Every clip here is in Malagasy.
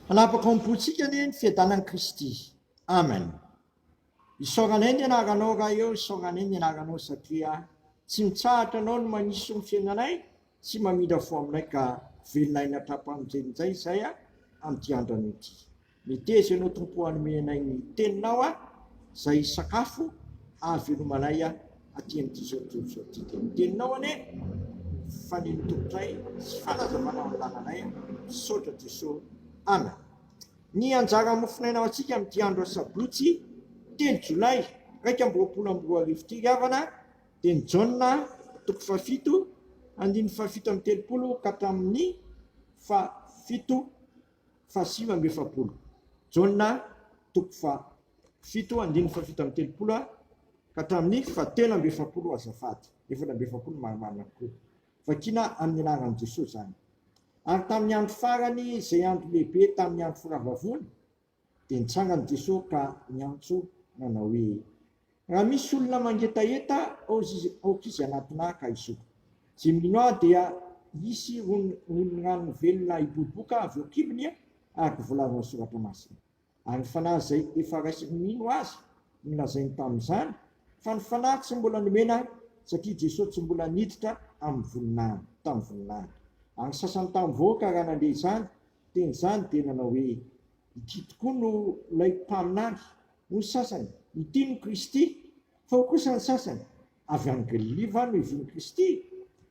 Hanapaka ao am-pontsika anie ny fiadanan'i Kristy. Amen. Isaoranay ny anaranao Ray ô, isaoranay ny anaranao satria tsy mitsahatra anao no maniso ny fiainanay sy mamindra fo aminay ka velona aina hatrampanontjeny njay izay a amin'ity andrano ity. Meteza ianao Tompo hanome anay ny teninao a, izay sakafo hahavelomanay a. aty amin'ity tontolo izao ity dia ny teninao anie no faneno tompotray sy fanazavana ao an-dalanay a! misaotra Jeso Amen. Ny anjara mofonaina ho antsika amin'ity andro asabotsy telo jolay iraika amby roapolo amby roa arivo ity ry havana dia ny Jaona toko fahafito andininy fahafito amby telopolo ka hatramin'ny fahafito fahasivy amby efapolo. Jaona toko faha fito andininy faha fito amby telopolo ka hatramin'ny faha telo amby efapolo azafady, efatra amby efapolo marimarina kokoa. Vakiana amin'ny anaran'i Jesoa izany. Ary tamin'ny andro farany, izay andro lehibe tamin'ny andro firavavoana, dia nitsangan'i Jesoa ka niantso nanao hoe, Raha misy olona mangetaheta aoka izy anatinà ka hisoko. Zimlinoà dia hisy rononon'rano velona hiboboka avy eo kibony araka volaza ao Soratra Masina. Ary ny fanahy izay efa raisin'ny mino Azy no lazainy tamin'izany, fa ny fanahy tsy mbola nomena satria Jesoa tsy mbola niditra amin'ny voninahiny, tamin'ny voninahiny. Ary ny sasany tamin'ny vahoaka raha nandeha izany teny izany dia nanao hoe, Ity tokoa no ilay mpaminany, hoy ny sasany, ity no Kristy, fa hoy kosa ny sasany, Avy any Galilia va no ivohon'i Kristy?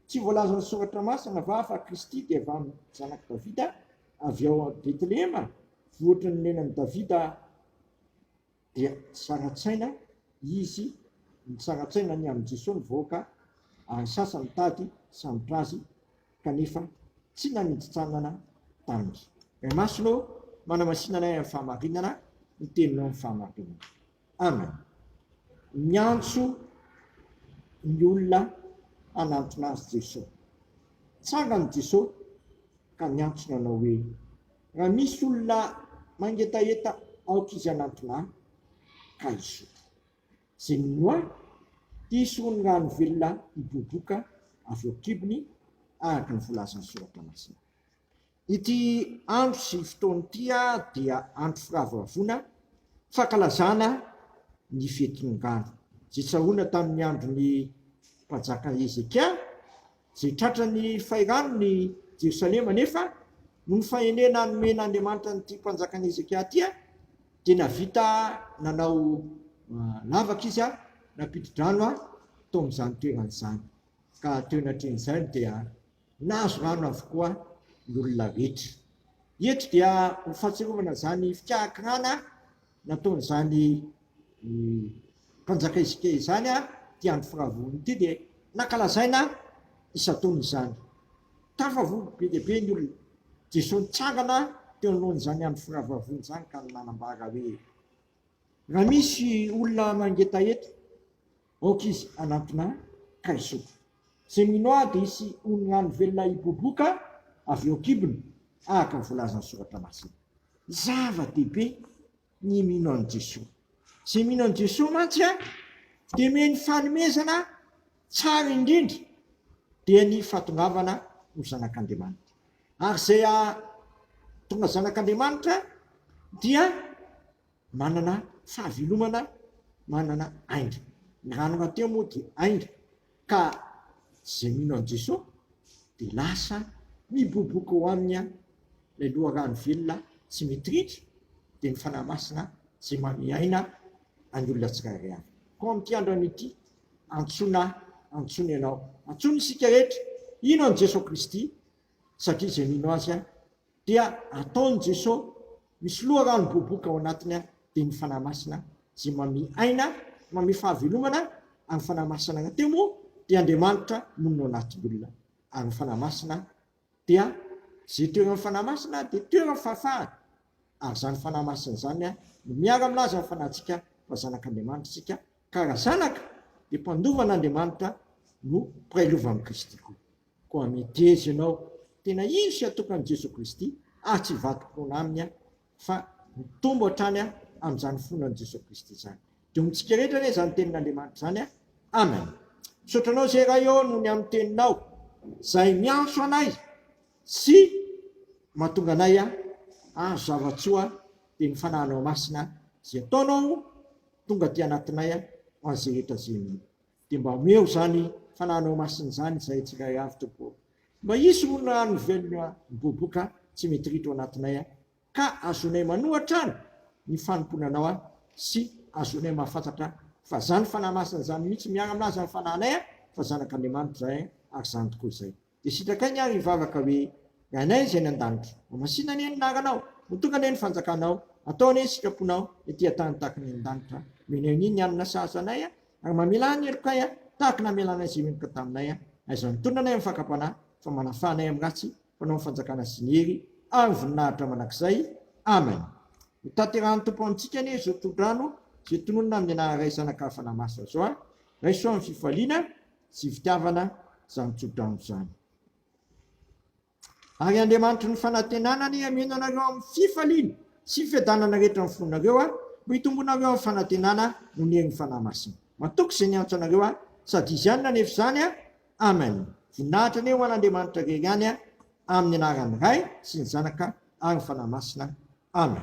Tsy voalazan'ny Soratra Masina va fa Kristy dia avy amin'ny zanak'i Davida, avy ao Betlehema, vohitry ny nenan'i Davida? dia saratsaina izy saratsaina ny amin'i Jesoa ny vahoaka ary sasany nitady hisambotra azy kanefa tsy nanintsintsana taminy. Ray Masina ô, manamasinana ahy amin'ny fahamarinana ny teninao amin'ny fahamarinana. Amen. Miantso ny olona hanantona azy Jesoa. Tsangany Jesoa ka miantsona anao hoe Raha misy olona mangetaheta aoka izy hanantona ahy ka hisotro. Izay mino ahy, dia hisy hono ny rano velona hiboiboka avy eo an-kibony, araka ny volazan'ny Soratra Masina. Ity andro sy fotoana ity dia andro firavoravoana, fankalazana ny fetin'ongano, izay tsaroana tamin'ny andron'ny Mpanjaka Hezekia, Izay tratran'ny fairanony i Jerosalema anefa, noho ny fahendrena nomen'Andriamanitra an'ity mpanjakan'i Hezekia ity, dia nahavita nanao lavaka izy, nampidi-drano tao amin'izany toerana izany, ka teo anatrehan'izany dia nahazo rano avokoa ny olona rehetra. Eto dia ho fahatsiarovana izany fikarakirana nataon'izany mpanjaka Hezekia izany ity andro firavoana ity dia nankalazaina isan-taona izany. Tafavory be dia be ny olona. Jesoa nitsangana teo anoloan'izany andro firavavoana izany ka nanambara hoe, Raha misy olona mangetaheta, Aoka izy hanantona ka hisotro. Izay mino Ahy dia hisy oningano velona hiboboka avy eo an-kibony, araka ny voalazan'ny Soratra Masina. Zava-dehibe ny mino an'i Jesoa. Izay mino an'i Jesoa mantsy dia omeny fanomezana tsara indrindra, dia ny fahatongavana ho zanak'Andriamanitra. Ary izay tonga zanak'Andriamanitra dia. Manana sazy hilomana manana ainga. Ny rano nateo moa dia ainga ka izay mino an'i Jesoa dia lasa miboboka ao aminy ilay loharano velona tsy mitiritra dia ny Fanahy Masina izay manome aina an'ny olona tsirairay avy. Koa amin'ity andron ity antsoina antsoina ianao. Antsoina isika rehetra hino an'i Jesoa Kristy satria izay mino Azy Dia ataon'i Jeso misy loharano miboboka ao anatiny dia ny Fanahy Masina izay mame aina, mame fahavelomana ary ny Fanahy Masina raha teo moa dia Andriamanitra monina ao anatin'olona ary ny Fanahy Masina dia izay toeran'ny Fanahy Masina dia toeran'ny fahafahana ary izany Fanahy Masina izany no miara milaza ny fanahintsika fa zanak'Andriamanitra isika ka raha zanaka dia mpandova an'Andriamanitra no mpiray lova amin'i Kristy koa. Koa miteza ianao tena hisy hatokan'i Jesoa Kristy ary tsy hivadim-poana Aminy aho fa mitombo hatrany aho amin'izany finoana an'i Jesoa Kristy izany. Dia ho amintsika rehetra anie izany tenin'Andriamanitra izany a! Amen. Misaotra Anao izay Ray ô noho ny amin'ny Teninao izay miantso anay sy mahatonga anay hahazo zava-tsoa dia ny Fanahinao Masina izay ataonao tonga aty anatinay ho an'izay rehetra izay Dia mba omeo izany fananao masina izany izahay tsirairay avy, Tompo ô. Mba hisy olona no velona miboboka tsy mitritra ao anatinay, ka ahazoanay manoa hatrany ny fanompoana Anao, sy ahazoanay mahafantatra fa izany Fanahy Masina izany mihitsy miara-milaza ny fanahinay fa zanak'Andriamanitra izahay, ary izany tokoa izay. Dia sitraka ainy ary hivavaka hoe, Ry Anay izay any an-danitra, mamasina anie ny anaranao, mitonga anie ny fanjakanao, atao anie ny sitraponao ety an-tany tahaka ny any an-danitra, omeny anie ny hanina sahaza anay, ary mamela ahy ny helokay tahaka ny namelanay izay meloka taminay, aiza ny tolona anay amin'ny fakam-panahy, fa manafaha anay amin'ny ratsy, mpanao ny fanjakana sy ny hery ary voninahitra mandrakizay. Amen. Hotanterahan'ny Tompo amintsika anie izao torodrano izay tononina amin'ny anaran'iray Zanaka hafa namaso Azy zao, Raiso amin'ny fifaliana, Tsy fitiavana izany tsodrano izany. Ary Andriamanitry ny fanantenana anie hameno anareo amin'ny fifaliana sy fiadanana rehetra ny fonareo a, mba hitombonareo amin'ny fanantenana noho ny herin'ny Fanahy Masina. Matoky izay niantso anareo ahy, sady Izy ihany nanefa izany a. Amen. Voninahitra anie ho an'Andriamanitra irery ihany a, amin'ny anaran'ny Ray sy ny Zanaka ary ny Fanahy Masina. Amen.